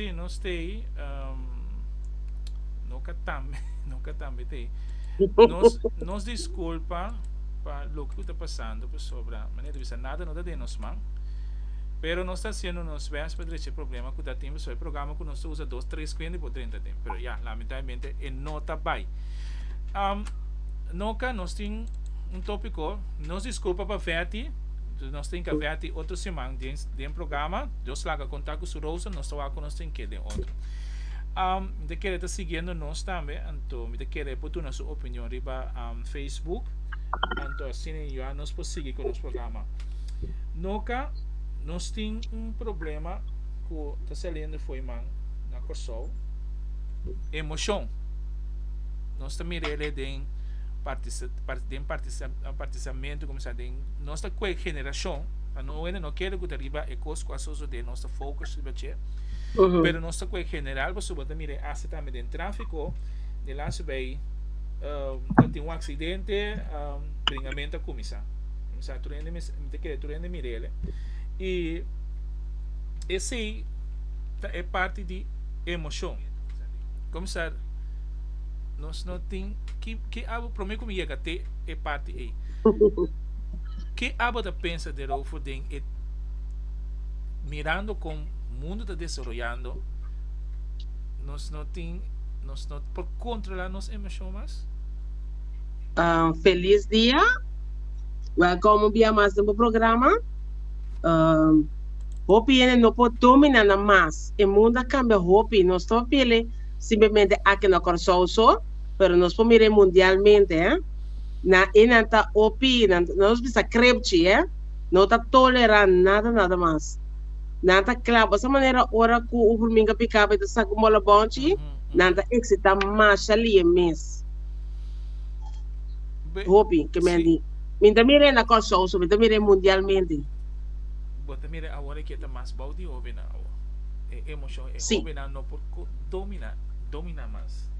Sí, nos stay. Um, no ka tambe, no ka tambe te. Nos, nos disculpa pa lo que está pasando, por sobra, manera de nada no da de nos man. Pero nos está haciendo nos best para el problema que está teniendo, so el programa que nos So usa dos tres kuende por drenta den pero ya lamentablemente e no ta bai. Um Noka nos tin un topico nos disculpa pa Vetty nos tin ka Vetty otro siman den den programa Dios laga konta ku su Rosa nos ta wak ku nos tin ke den otro. Um mi ta kere ta siguiendo nos tambe anto mi ta kere por duna su opinion riba um Facebook anto asina ya nos por sigui ku nos programa. Noka nos tin un problema. ku ta saliendo fo'i man na Kòrsou, emoshoon. Nos ta mira el'e den den partisamentu kuminsá den nos ta kue generashon, pa no wende no kere ku ta riba e kos ku a sosodé nos ta focus riba dje, pero nos ta kue general pasobra bo ta mira e asta tambe den tráfiko di laatste bei ta tin un aksidente bringamento a kuminsá, a kuminsá tur hende mi ta kere tur hende mira el'e i. Esei ta e parti di emoshon. Komisar, nos no tin ki ki abo prome ku mi yega te e parti ei. Ke abo ta pensa derover den e mirando kon mundu ta desaroyando nos no tin nos no por kontrola nos emoshon mas? Felis dia, welkom un bia mas den bo programa. Um, hopi hende no por domi nan nan mas. E mundo a cambia hopi. Nos ta papele simplemente aki na Curaçao so, pero nos por mira mundialmente, eh. Na e nan ta hopi, nan, nos bisa krepchi, eh. No ta tolera nada, nada mas. Nan ta kla, boso manera ora cu un hurminga pica bo e ta saca un bola bonchi, nan ta excita masha lie mes. Be, Hopi, ke men si. di. Mi ta mira e na Kòrsou so mi ta mira e mundialmente. Bo ta mira awor e ke ta mas bou di hobennan awor. E emoshon e hobennan no por dominá, dominá mas.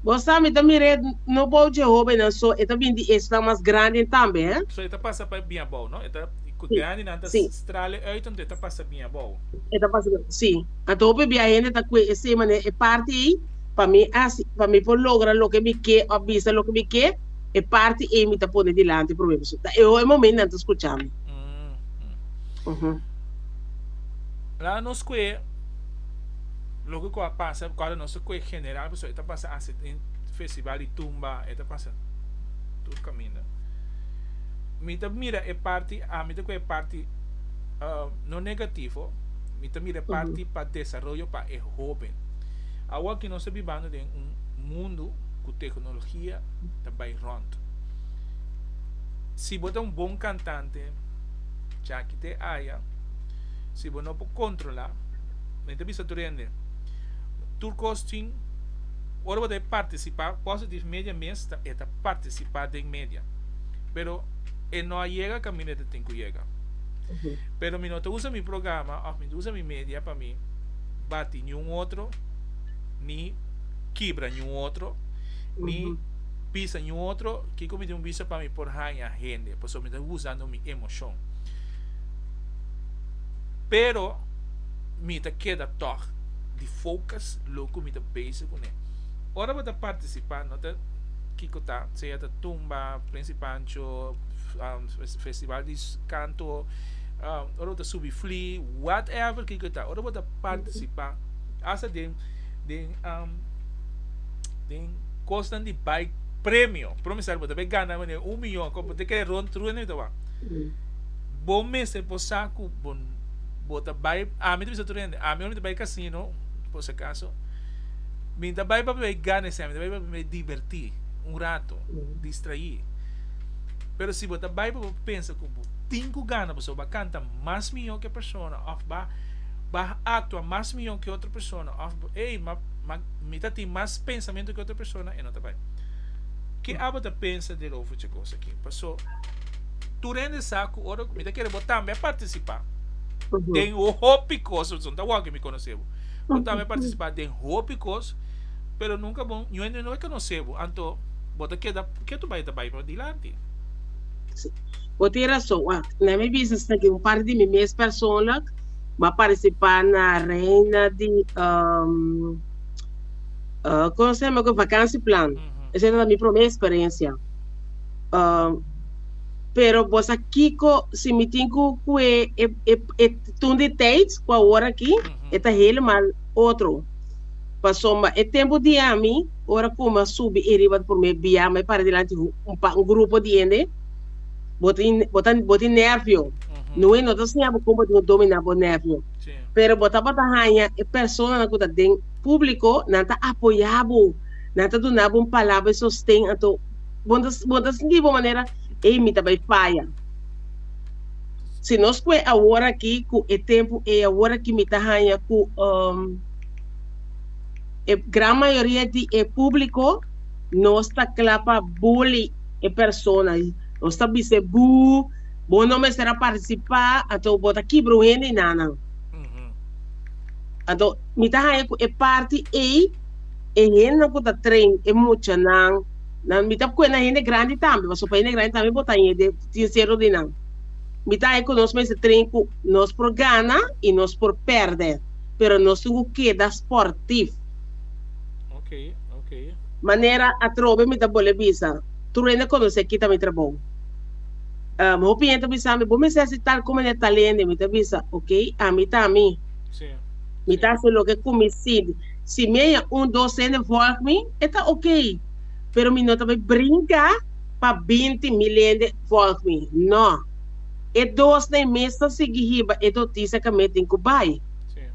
Bo sa mi ta mira e no bou dje hobennan so e ta bini di esnan mas granden tambe, eh. So e ta pasa pa e bia bou, no? E ta ku grandinan ta strala e uit anto e ta pasa bia bou. E ta pasa bia, sí. Anto hopi bia hende ta kue esei manera e parti ei pa mi hasi, pa mi por logra loke mi ke òf bisa loke mi ke. E parti ei mi ta pone dilanti promé persona. Ta e oe momento nan ta scucha mi. Mm-hmm. La nos kue loke ku a pasa, ku a nos kue general, so e ta pasa asi in festival di tumba, e ta pasa tur kaminda. Mi ta mira e parti, a mi ta kue e parti uh, no negativo, mi ta mira e parti pa desarrollo pa e hoben. Awa ki nos ta bibando den un mundo ku teknologia ta bai rònt. Si bo ta un bon kantante, djaki te aya. Si bo no por kontrolá, mi ta bisa tur hende, tur kos tin, ora bo ta e partisipá, Positive Media mes ta e ta partisipá den media, pero e no a yega kaminda e ta tin ku yega. Pero mi no ta usa mi programa òf mi no ta usa mi media pa mi bati niun otro ni. kibra ñu otro, ni pisa ñu otro, kiko mi tin ku bisa pa mi por haña hende? Pasobra mi ta usando mi emoshon. Pero, mi ta keda tòg di fokus loke ku mi ta bese kuné. Ora bo ta partisipá no ta kiko ta, sea ta tumba, Prins i Pancho, festival di kanto, ora bo ta subi flí, whatever kiko i ta, ora bo ta partisipá, hasta den den um den kosnan di bai premio por ejemplo si bo ta bai gana manera un miyon ku bo ta kere rond true na mi ta wak bo mester por sa ku bo bo ta bai ami ta bisa tur hende ami ora mi ta bai casino por si acaso mi ta bai pa mi gana esei mi ta bai pa mi diverti un rato distrai pero si bo ta bai pa bo pensa ku bo tin ku gana pasobra bo a canta mas miyon ke e persona of ba ba actua mas miyon ke otro. persona of bo ey ma ma mi ta tin mas pensamentu ke otro persona e no ta bai ke abo ta pensa di Rofo che kos aki paso tur hende sa ku ora mi ta kere bo tambe a partisipa den hopi kos paso no ta wak ke mi konosé bo bo tambe a partisipa den hopi kos pero nunka bo yu hende no a konosé bo anto bo ta keda ke tur bai ta bai padilanti. Bo tin rason wak na mi bisnis na tin un parti di mi mes persoonlijk. m'a participá na Reina di um con se llama Vakansieplan. Esei tabata mi promé experiencia. Um pero bosa kiko si mi tin ku kue e e e tun di tijds ku awor aki e ta helemal otro. Pasobra e tempu di ami ora ku m'a subi e riba di promé biaha m'a par'e dilanti un pa un grupo di hende. bo ta in- bo ta bo tin nervio. No way no ta siña bo kon bo tin ku dominá bo nervio. Sí. Pero bo tabata haña e personanan ku ta den públiko, nan ta apoyá bo, nan ta duna bo un palabra di sosten. Anto bo no ta bo no ta sinti bo manera ey mi ta bai faya. Si nos kue awor aki ku e tempu ey awor aki mi ta haña ku um e gran mayoria di e públiko no sta kla pa bully. e persona i nos ta bis'é, Buu, bo no mester a partisipá, anto bo ta kibra un hende i nanan. Anto mi ta haña ku e parti ei, e hendenan ku ta train e muchanan, nan mi ta kuenta hende grandi tambe, pasobra pa hende grandi tambe bo ta haña den tin seru di nan. Mi ta haña ku nos mester train ku nos por gana i nos por pèrdè, pero nos tin ku keda sportif. Manera atrobe mi ta bole bisa, Truene conoce kita mi trabou. Um, hopi hende ta bisa mi, bo mester haci tal como ne tal hende, mi ta bisa, ok, ami ta ami. Mi ta haci loke cu mi sinti. Si mi a ya un, dos hende volg mi, e ta ok, pero mi no ta bay brinca pa binti mil hende volg mi, no. E dosnan e mes ta sigui hiba e noticia ca mi a tin cu bay,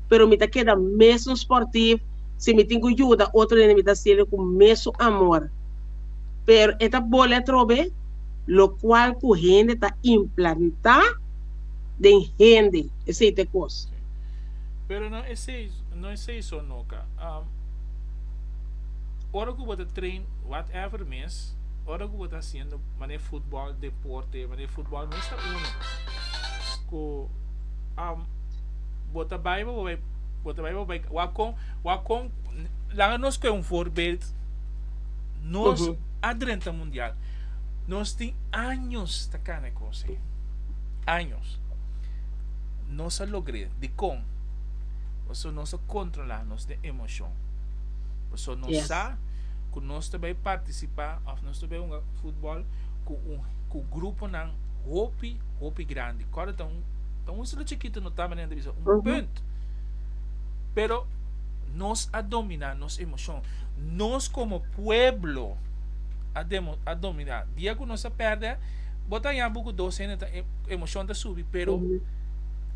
pero mi ta keda mesun sportief, Si mi tin cu yuda otronen mi ta hacielo cu mesun amor. Pero e ta boli atrobe, locual cu hende ta implanta den hende esey t'e cos. Pero no esey no esey so no ka. Ora cu bo ta train whatever mes, ora cu bo ta haciendo manera futbol deporte, manera futbol mes ta uno cu bo ta bay bo bai. Bo ta bai bo bai wak kon wak kon laga nos koe un voorbeeld nos Uhu. a drenta mundial nos tin años ta kana e kos'e años nos a logr'e dikon pasobra nos a kontrola nos den emoshon pasobra nos Yes. sa ku nos ta bai partisipa òf nos ta bai hunga futbòl ku un ku gruponan hopi hopi grandi kòrdata un Ta un isla chikitu, no ta manera di bisa un punt. Pero nos a dominá nos emoshon. Nos komo pueblo a demo, a dominá. Dia ku nos a pèrdè, bo ta haña buki dos hende ta, emoshon ta subi, pero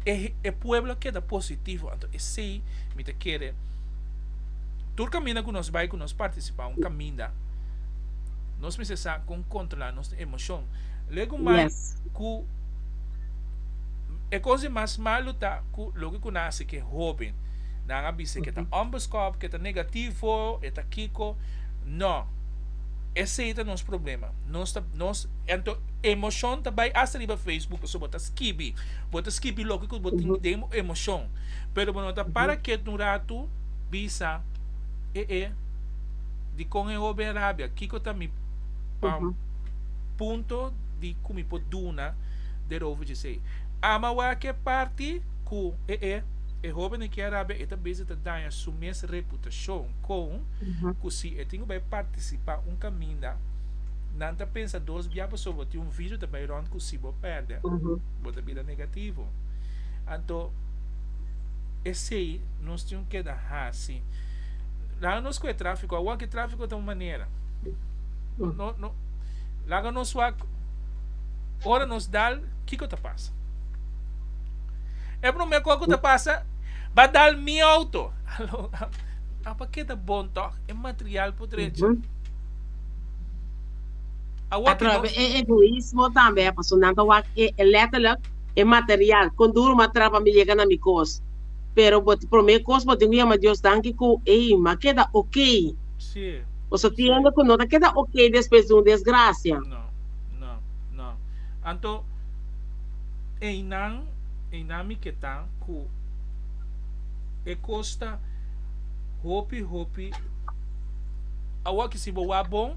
e, e pueblo a keda positivo. Anto esei mi ta kere tur kaminda ku nos bai, ku nos partisipá un kaminda, nos mester sa kon kontrolá nos emoshon. Luego mai ku. E cos di mas malo ta cu loke cu nan haci cu e hoben, nan a bisa cu e ta onbeschoft, cu e ta negativo, e ta kico, no, esey ta nos problema, nos ta, nos, ento emocion ta bay hasta riba facebook pasobra bo ta skibi, bo ta skibi loke cu bo tin den bo emocion, pero bo no ta para kiet un rato bisa, e e, dicon e hoben rabia, kico ta mi punto. di ku mi por duna den over djesei. Ama wak e parti ku e e e hóbenen ke a rabia e ta bezi ta daña su mes reputashon kon ku si e tin ku bai partisipá un kaminda nan ta pensa dos bia pasobra bo tin un vidio ta bai rònt ku si bo pèrdè bo ta bira negativo. Anto esei nos tin keda hasi. Laga nos ku e tráfiko awor ke tráfiko ta un manera. Laga nos wak ora nos dal kiko ta pasa. E prome ko ku ta pasa ba dal mi outo. Alo a pa keda bon tok e material por drecha. A wak e nos. E egoismo tambe paso nan ta wak e letterlijk e material kon duro ma traba mi yega na mi kos pero bo prome kos bo tin ku yama Dios danki ku ey ma keda ok. Nos ta tiende cu no ta keda ok despues di un desgracia. No, no, no. Anto eynan, eynan mi ke ta cu e cos ta hopi, hopi. Awor si bo wak bon,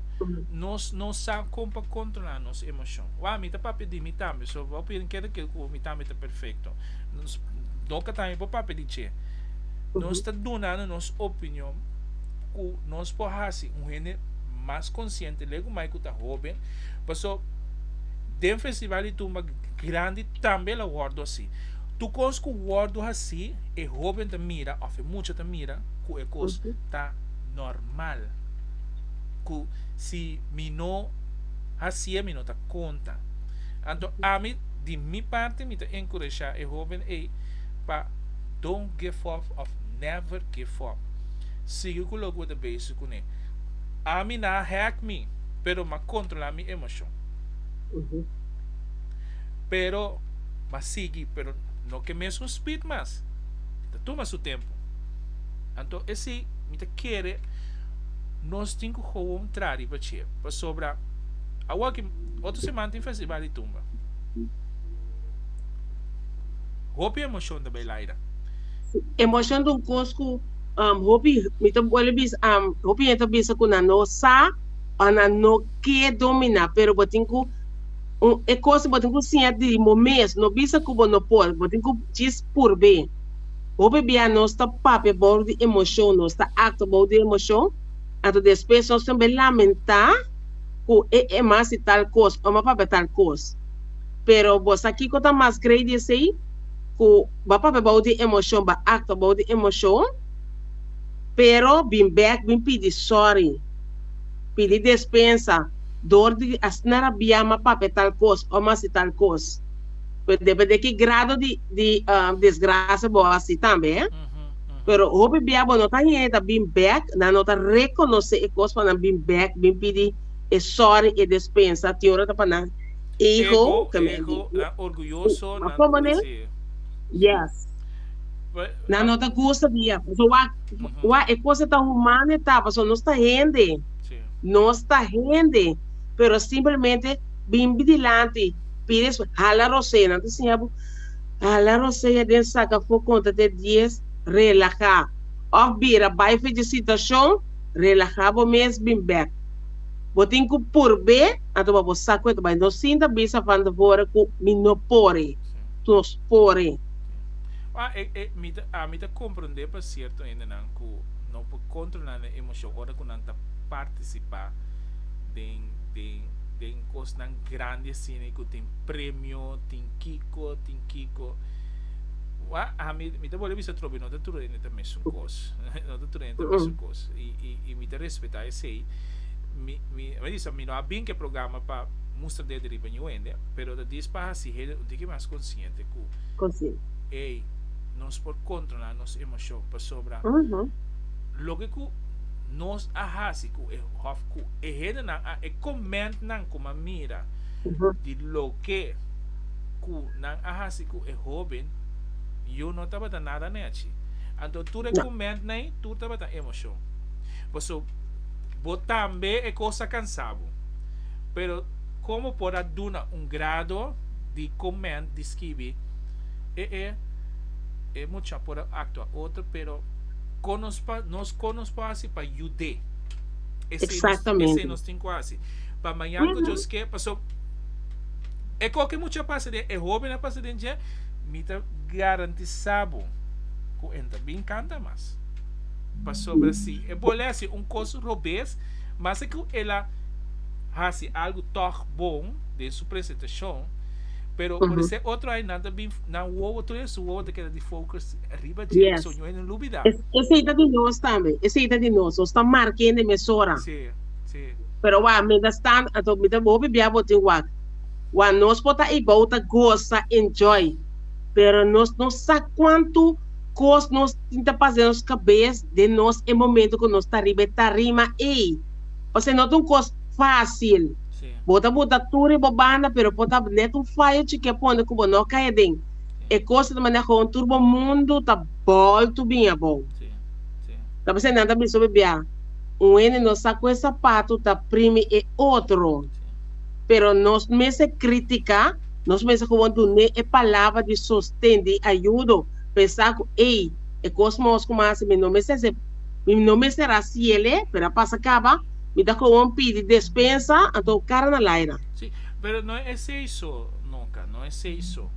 nos no sa con pa controla nos emocion. Wak, mi ta papia di mi tambe, so bo piden keda kil cu mi tambe ta perfecto. Nos doka tambe por papia di dje. Nos ta dunando nos opinion. ku nos por hasi un hende mas konsiente lei ku mai ku ta hoben, paso den festival di tumba grandi tambe lo wòrdu asi. Tur kos ku wòrdu hasi e hoben ta mira òf e mucha ta mira ku e kos ta nòrmal, ku si mi no hasié mi no ta konta. Anto ami di mi parti mi ta enkurashá e hoben ei pa don't give up of. Never give up. Sigui cu loke bo ta bezig cu ne. Ami na hack mi, pero m'a controla mi emocion. Pero m'a sigui, pero no cu e mesun speed mas. Mi ta tuma su tempo. Anto esi mi ta kere nos tin cu gewoon traha riba dje. Pasobra awoki, otro semana tin festival di tumba. Hopi emocion ta bay laira. Emocion ta un cos cu hopi, mi ta bolbe bisa, hopi hende ta bisa cu nan no sa o nan no ke domina, pero bo tin cu, e cos bo tin cu siña di bo mes, no bisa cu bo no por, bo tin cu djis purbe. Hopi bia nos ta papia bou di emocion, nos ta actua bou di emocion, anto despues nos ta be lamenta cu e Emma hasi tal cos, Emma papia tal cos. Pero bo sa kico ta mas grei di esey? ku ba papia bou di emoshon, ba aktua bou di emoshon, pero bin bèk bin pidi sòri, pidi despensa dor di a sna rabiá mas papia tal kos o mas hasi tal kos. Pero depende di ki grado di di desgrasia bo a hasi tambe. Pero hopi bia bo no ta heda bin bèk, nan no ta rekonosé e kos, pa nan bin bèk bin pidi e sòri, e despensa, tin ora ta pa nan. Ego, ego, a orguyoso nan ta deci. Yes. Nan no ta gusta di yah. Pasobra wak, wak e cosa ta humano e ta, pasobra nos ta hende. Nos ta hende, pero simplemente bin bin dilanti, pidi escuel, hala Rosé, nan ta siña bo, hala Rosé ya den sak afo conta te dies, relaha, of bira bai felicitacion, relaha bo mes bin bek. Bo tin cu purbe. Anto bo a bo sa cu e ta bay nos sinta bisa van tevore cu mi no por e. Nos por e. Wak, e, e, mi ta, a mi ta comprende pa cierto hendenan cu no por controla nan emocion ora cu nan ta participa den, den, den cosnan grandi asina y cu tin premio, tin kico, tin kico. Wak, a mi, mi ta bolbe bisa trobe, no ta tur hende ta mesun cos. No ta tur hende ta mesun cos. Y, y, y mi ta respeta esey. Mi. Mi a bisa mi no a bin ke programa pa mustra dede riba ñu hende, pero ta dis pa hasi hende un tiki mas konsiente ku ey nos por kontrola nos emoshon pasobra loke ku nos a hasi ku e of ku e hendenan a e komentnan ku mi a mira di loke ku nan a hasi ku e hoben yo no tabata nada nechi anto tur e komentnan ey tur tabata emoshon paso. Bo tambe e kos a kansa bo. Pero komo por a duna un grado di komènt di skibi e e e mucha por a aktua otro pero kon nos pa nos kon nos por hasi pa yud'é? Esei nos esei nos tin ku hasi pa mañan ku Dios ke paso e ko ke mucha pasa den e hoben a pasa den dje mi ta garantisa bo ku en ta bin kanta mas. Pasobra si e bo lesi un kos robes, mester ku el a hasi algu tòg bon den su presentashon, pero por esei otro ai nan ta bin, nan wowo, tur den su wowo ta keda di focus riba dje, pasobra hopi nan lubida. Esei ta di nos tambe, esei ta di nos, nos ta marka hende den mesora. Sí, sí. Pero wak, mientras tanto, anto mi ta bo hopi bia bo tin wak, wak nos por ta eibou ta goza, enjoy, pero nos no sa kuantu kos nos. tin ta pasa den nos kabes den nos e momento ku nos ta riba e tarima ei. Pasobra no ta un kos fásil. Bo ta bota tur riba bo banda, pero por ta nèt un fayo chikí a pone ku bo no kai aden. E kos ta manda hon tur bo mundu ta bòltu bini abou. Ta pasobra nan ta bisa bo bia, Un hende no sa ku e sapatu ta primi e otro. Pero nos mester krítika, nos mester komo dun'é e palabra di sosten, di ayudo. Pensa cu, Ey, e cos mos cu mas mi no mester haci, mi no mester haci el'e, pero a pasa caba, mi ta cowan pidi despensa, anto cu cara na laira. Sí, pero no esey so, nunca, no esey so.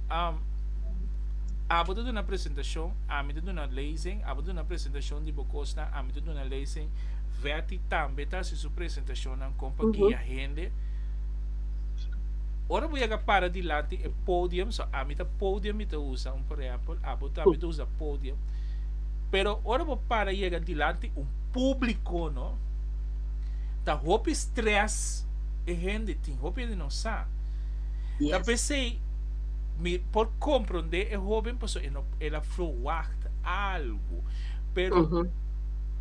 Am, abo ta duna presentacion, ami ta duna lezing, abo ta duna presentacion di bo cosnan, ami ta duna lezing, Vetty tambe ta haci su presentacionnan con pa guia hende. Ora bo yaga para dilanti e podium, so ami ta podium mi ta usa, un por ehempel, abo ta mi ta usa podium, pero ora bo para yaga dilanti un publico no, ta hopi stress, e hende tin hopi hende no sa, ta pesey mi por compronde e hoben paso e no el a frowacht algo, pero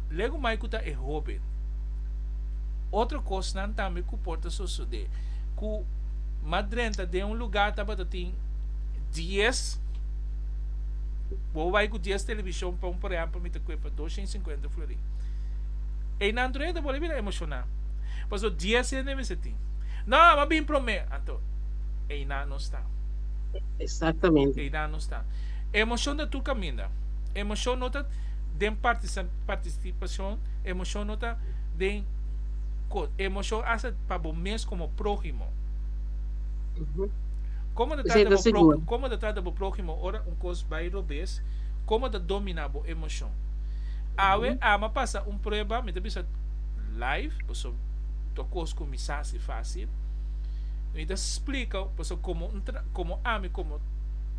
lego mai cu ta e hoben otro cosnan tambe cu por ta sosode. ku mas drenta den un lugá tabata tin dies bo bai ku dies televishon pon por ehèmpel mi ta kuepa dos shen sinkuenta florì einan tur hende bo lo bira emoshoná pasobra dies hende mester tin nò a bin promé anto einan no sta einan no sta emoshon ta tur kaminda emoshon no ta den partisi partistipashon emoshon no ta den ko emoshon hasta. pa bo mes komo próhimo. Komo ta trata bo próhimo? Komo ta trata bo próhimo ora un kos bai robes? Komo ta dominá bo emoshon? Awe Ama pasa un prueba, mi ta bisa live, pasobra ta un kos ku mi sa hasi fásil. Mi ta splika pasobra komo un tra, komo ami komo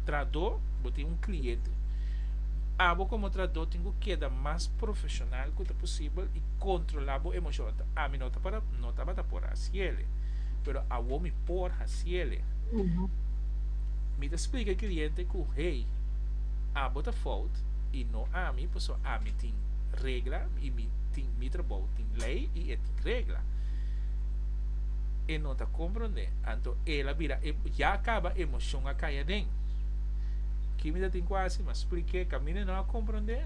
traadó, bo tin un kliente. Abo komo traadó tin ku keda mas profeshonal ku ta posibel i kontrolá bo emoshon. Ami no tabata no tabata por hasiele, pero awor mi por hasiele. Mi ta splika e kliente ku, Hey, abo ta fout i no ami, paso ami tin regla i mi tin mi trabou tin lei i e tin regla. E no ta komprondé, anto el a bira e ya a kaba emoshon a kai aden. Ki mi ta tin ku hasi? Mi a spliké, kaminda e no a komprondé?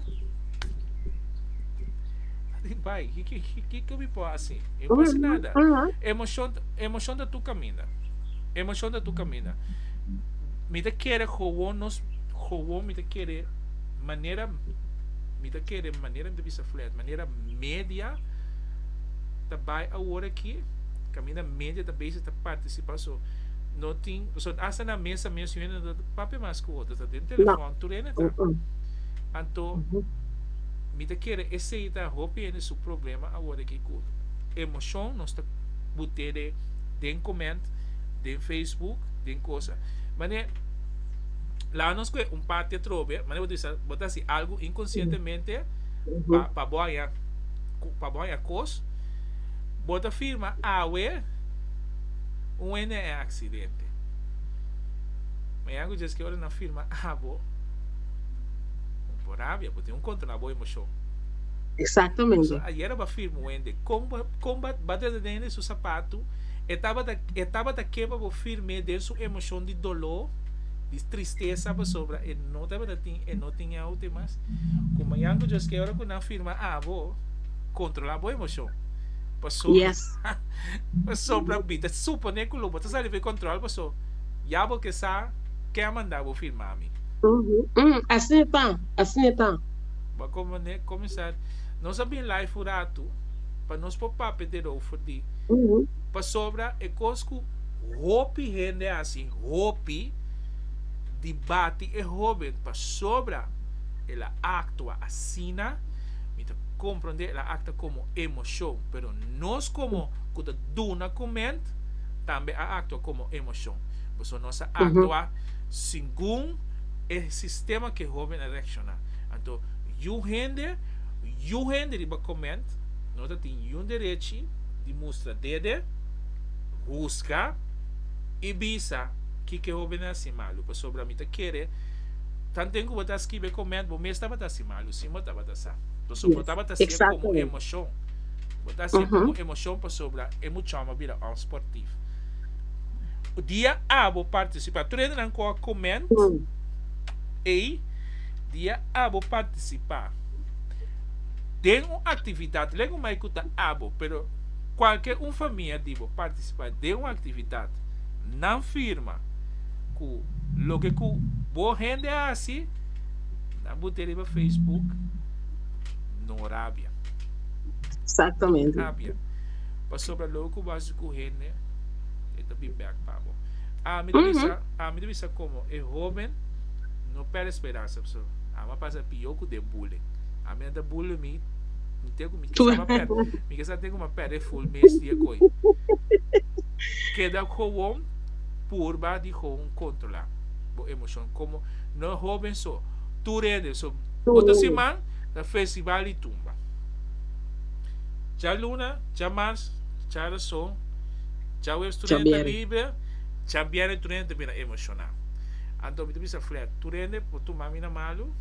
Di bai, ki ke mi por hasi? Mi no por hasi nada. Emoshon, emoshon ta tur kaminda. Emoshon ta tur kaminda. Mi ta kere howon nos, howon mi ta kere manera, mi ta kere manera mi ta bisa Fred, manera media ta bai awor aki, kaminda media ta basic ta participa so no tin, so hasta na mesa mes yu hende no ta papia mas ku otro, ta den telefòn tur hende ta. Anto Mi ta kere esei ta hopi hende su problema awor den ki kulto. Emoshon nos ta but'e den koment, den facebook, den kosa. Manera laga nos kohe un parti atrobe, manera bo ta bisa bo ta hasi algu inkonsientemente pa pa bo haña pa bo haña kos, bo ta firma awe un hende en aksidente. Manera ku djis ki ora nan firma abo un por rabia. un kontra na bo emoshon. Exactamente. Pasobra ayera bo a firma un hende, kon bo, kon bo a trata den hende su sapatu, e tabata, e tabata keba bo firme den su emoshon di doló, di tristesa, pasobra e no tabata tin, e no tin e aute mas. Ku mañan ku djoskee ora ku nan firma abo, kontrolá bo emoshon. Pasobra, Yes. pasobra mi ta suponé ku lo bo ta sali fu e kontròl, paso ya bo ke sa ke a manda bo firma mi. Uhuh, umm, asina ta. Asina e ta. Bo como ne comisar. Nos a bin live un rato pa nos por papia derover di pasobra e cos cu hopi hende haci hopi di bati e hoben pasobra el a actua asina mi ta comprende el a acta como emocion pero nos como cu ta duna coment tambe a actua como emocion pasobra nos a actua segun E sistema ke hoben a reakshoná. Anto yu hende, yu hende riba koment no ta tin niun derechi di mustra dede, husga i bisa kiko e hoben a hasi malu. Pasobra mi ta kere tantu den ku bo ta skibi e koment bo mes tabata hasi malu si bo tabata sa. Pasobra bo tabata hasi e komo emoshon. Bo ta hasi e komo emoshon pasobra e muchao a bira òf sportif. Dia a bo participa. Tur hende nan cu a coment ey dia a bo participa den un actividad lego mai cu ta a bo pero cualkier un famia di bo participa den un actividad nan firma cu loke cu bo hende a haci nan bute riba Facebook no rabia no rabia. Pasobra lo ku bo hasi ku hende, e ta bi bèk pa bo. A mi ta bisa, a mi ta bisa komo e hoben no pèrdè speransa paso amo a pasa pió ku den bullying. A mi nan ta bully mi, mi te ku mi ke sa pèrdè, mi ke sa te ku mi a pèrdè ful mes di e koi. Keda kowon purba di kowon kontrolá bo emoshon. Komo no e hoben so, tur hende so. Oto siman ta festival di tumba. Cha luna, cha mars, cha rason, cha webs tur hende ta libre, cha bierne tur hende ta bira emociona. Anto mi ta bisa Fred, tur hende por tuma mi na malu,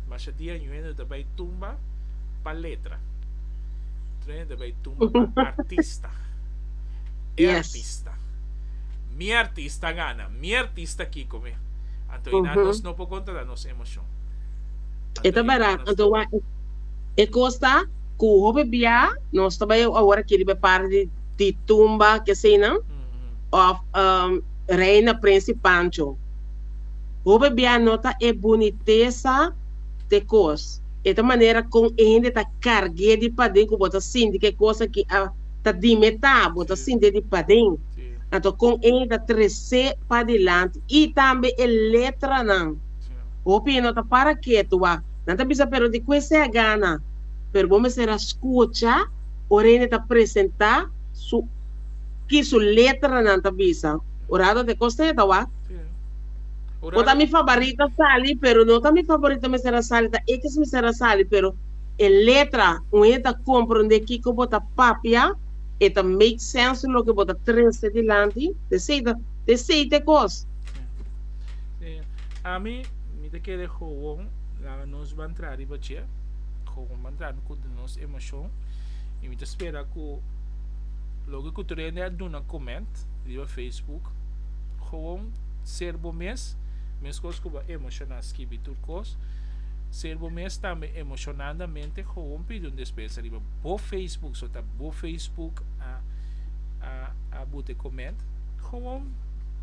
masha dia ñu hende ta bay tumba pa letra. Tur hende ta bay tumba pa artista. E artista. Mi artista a gana, mi artista Kiko mi. Anto ina nos no por controla nos emocion. Anto ina nos ta. E costa. Ku hopi bia nos ta bai awor aki riba e parti di tumba keseinan òf Reina Prensi Pancho. Hopi bia nota e bunitesa di e kos. E ta manera kon e hende ta karg'é di paden ku bo ta sinti ku e kos aki ta dimetá, bo ta sintié di paden. Anto kon e ta tres'é padilanti. I tambe e letranan. Hopi no ta para ketu wak. Nan ta bisa pero di ku esei a gana? pero bo mester a skucha ora hende ta presentá su ki su letranan ta bisa. Ora atoa te kos ta heta wak? Bo ta mi fabarito a sali, pero no ta mi faborito mester a sali, ta e ki mester a sali, pero e letra un hende ta komprondé kiko bo ta papia, e ta make sense loke bo ta trese dilanti, ta esei ta, ta esei ta e kos. Ami mi ta kere gowon laga nos ban traha riba dje. con un mandrano cu den nos emocion y mi ta spera cu loke cu tur hende a duna comment riba Facebook gewoon ser bo mes mescos cu bo a emociona skibi tur cos ser bo mes tambe emocionandamente gewoon pidi un despensa riba bo Facebook so ta bo Facebook a a a bute comment gewoon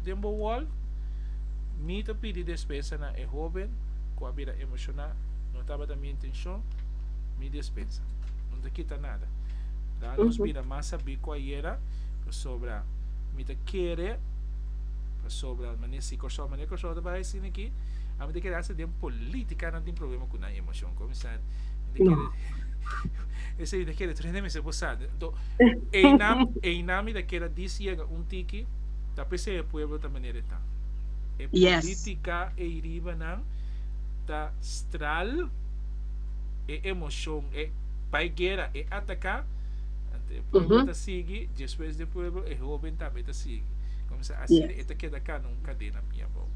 den bo wall mi ta pidi despensa na e hoben cu a bira emociona. Tabata mi intencion, mi despensa. No ta kita nada. Da nos bira mas sabi cu a yera, pasobra mi ta kere, pasobra mane si Corsou, mane Corsou ta bay asina aki, ami ta kere hasta den politica nan tin problema cu nan emocion. Comisar, mi ta kere, esey mi ta kere truhende mester por sa. Ento, eynan, eynan mi ta kere dis yega un tiki, ta p'esey e pueblo ta manera e ta. E politica ey riba nan ta. Stral e emocion e bai guera e ataca ante pueblo ta sigui despues de pueblo e hoben tambe ta sigui comisa asina e ta keda cana un cadena mia abao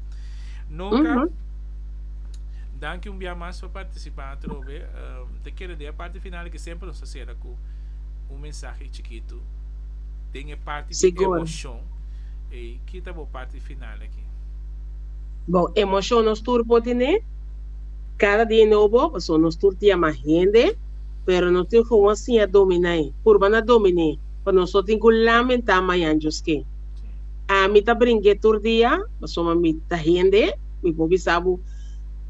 Noka danki un bia mas pa participa atrobe ta keda den e parti final ki semper nos ta cera cu un mensahe chikitu den e parti di emocion ey ki ta bo parti final aki. Bo emocion nos tur por tine cada dia nobo paso nos tur tin yama hende pero no tin for wan siña dominai purba na dominé pa nos no tin cu lamenta mayanjos ke ami ta bringue tur dia paso ma mi ta hende mi por bisa bo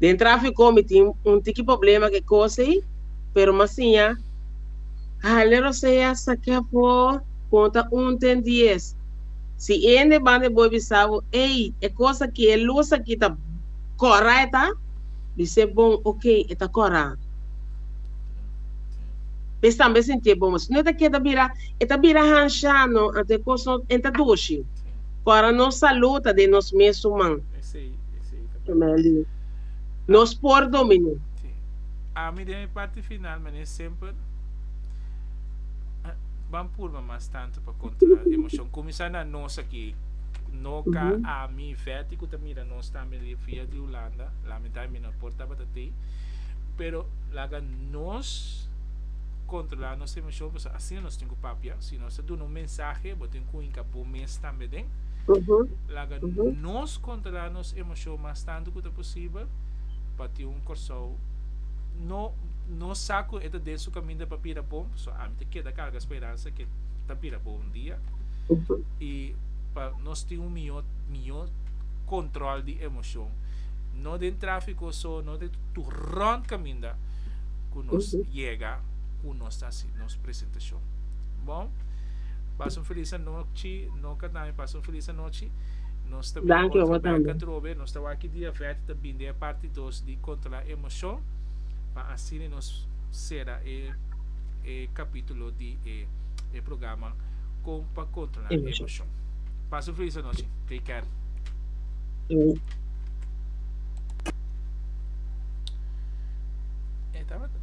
den trafico mi tin un tiki problema ke cosey pero ma siña hale rosea saque afo con ta un ten dies. Si e hende banda e boy bisa bo, Ey, e cos aki, e luz aki ta cora e ta? Bis'é bon, Ok, e ta cora. Bes tambe sinti'é bon, mas no e ta keda bira, e ta bira hansha no, anto e cos no enta dushi. Cora nos salud ta den nos mes human. Gemelli, Nos por dominé. Si. Ami den mi parti final, menen semper ban purba mas tanto. Pa kontra, emocion kuminsá na nos aki. No ka ami i Fetty ku ta mira nos tambe riba via di Hulanda, lamentablemente mi no a por tabata tei, pero laga nos kontrolá nos emocion pasobra asina nos tin ku papia. Si nos ta duna un mensahe, bo tin ku hinka bo mes tambe den. Laga nos kontrolá nos emocion mas tantu ku ta posibel pa tin un Kòrsou, no, nos sa ku e ta den su kaminda pa bira bon, pasobra ami ta keda karga speransa. hende ke ta bira bo un dia i pa nos tin un mihó mihó kontròl di emoshon no den tráfiko so no den tur rònt kaminda ku nos yega ku nos ta hasi nos presentashon bon pasa un felis anochi no katami pasa un felis anochi nos ta bira otro bek atrobe nos ta wak ki dia vèt ta binde e parti dos di kontrola emoshon pa asina nos sera e. e capítulo di e, e programa Con pa controlar e emoción. Pas un feliz noche. Take care. E tabata.